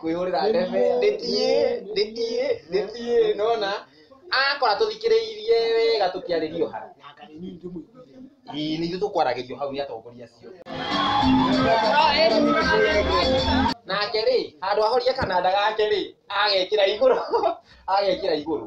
kwĩhũrĩra ndebe ndĩtiĩ ndĩtiĩ ndĩtiĩ nona akora tũthikĩrĩirie wega tũkĩarĩria ũhara ii nithu tũkwaragĩrio hau nĩ atongoria acio nake rĩ handũ ahorie kananda gake rĩ agekĩra igũrũ agekĩra igũrũ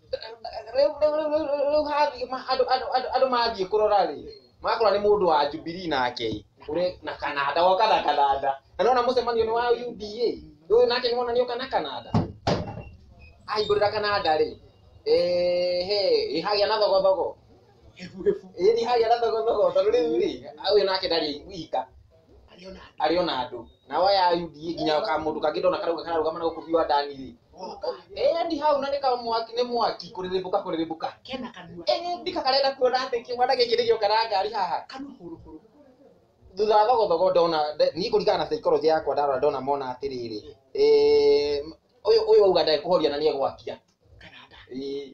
rĩu hathiĩ ma- andũ andũ andũ andũ mathiĩ kũrora rĩ makora nĩ mũndũ wa Jubilee nake ũrĩ na Kanada woka na Kanada na nona mũcemanio nĩ wa UDA ũyũ nake nĩ wona nĩ oka na Kanada ahingũrĩra Kanada rĩ ehe ĩhagĩa na thogothogo ĩni hagĩa na thogothogo tondũ rĩu rĩ ũyũ nake ndarĩ wika arĩ ona andũ nao aya a UDA nginya ka mũndũ kangĩ ndona karauga kararũgama na gũkũ biwa ndani rĩ eh ni hau na nĩ ka mwaki nĩ mwaki kũrĩrĩmbũka kũrĩrĩmbũka kena kanua eh ndika karenda kuona atĩ kĩmwana gĩkĩ nĩgĩo karangari haha kanua hũrũ hũrũ thutha wa thogothogo ndona nde- niĩ kũringana na psychology yakwa ndarora ndona mona atĩrĩrĩ eh, ũyũ ũyũ auga ndekũhoria na nĩ egwakia kana nda Eh,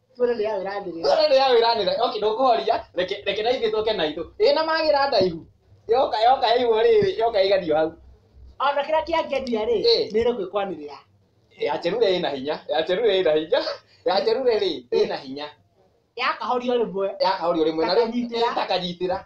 Tuone nĩ ya wĩra ndĩrĩ. Tuone nĩ ya wĩra ndĩrĩ. Okay, ndũkũhoria. Reke reke na ithuĩ tũke na itũ. Ĩ na magira ndaihu. Yoka yoka ĩguo rĩrĩ, yoka ĩgathio hau. Ona kĩrĩa kĩangenia rĩ, nĩ ĩrĩ kwĩkwanĩrĩa. Ya Cherure ĩna hinya. Ya Cherure ĩna hinya. Ya Cherure rĩ, ĩna hinya. Yakahorio rĩmwe. Yakahorio rĩmwe. Takanyitĩra. Takanyitĩra.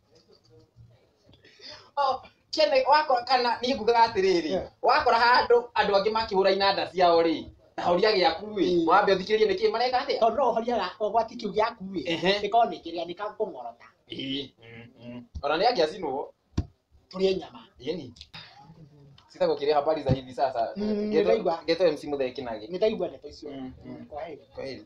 kĩene wakora kana niĩ ngugaga atĩrĩrĩ wakora handũ andũ angĩ makĩhũra inanda ciao rĩ na horia gĩaku rĩ Mm. wambe ũthikĩrĩrie nĩkĩ mareka atĩa tondũ no ũhoria gakwa gwati kĩu gĩaku ĩ Ehe. gĩkorwo nĩ kĩrĩa nĩ kakũng'orota Ĩĩ, mm, mm. ona nĩ angĩacinwo tũrĩe nyama yeni sitagũkĩrĩa habari za hivi sasa Mm, Geto- nĩraigua. geto mc mũthee kinagi nĩ ndaigua ndeto icio Mm, mm. kwa heri Kwaheri.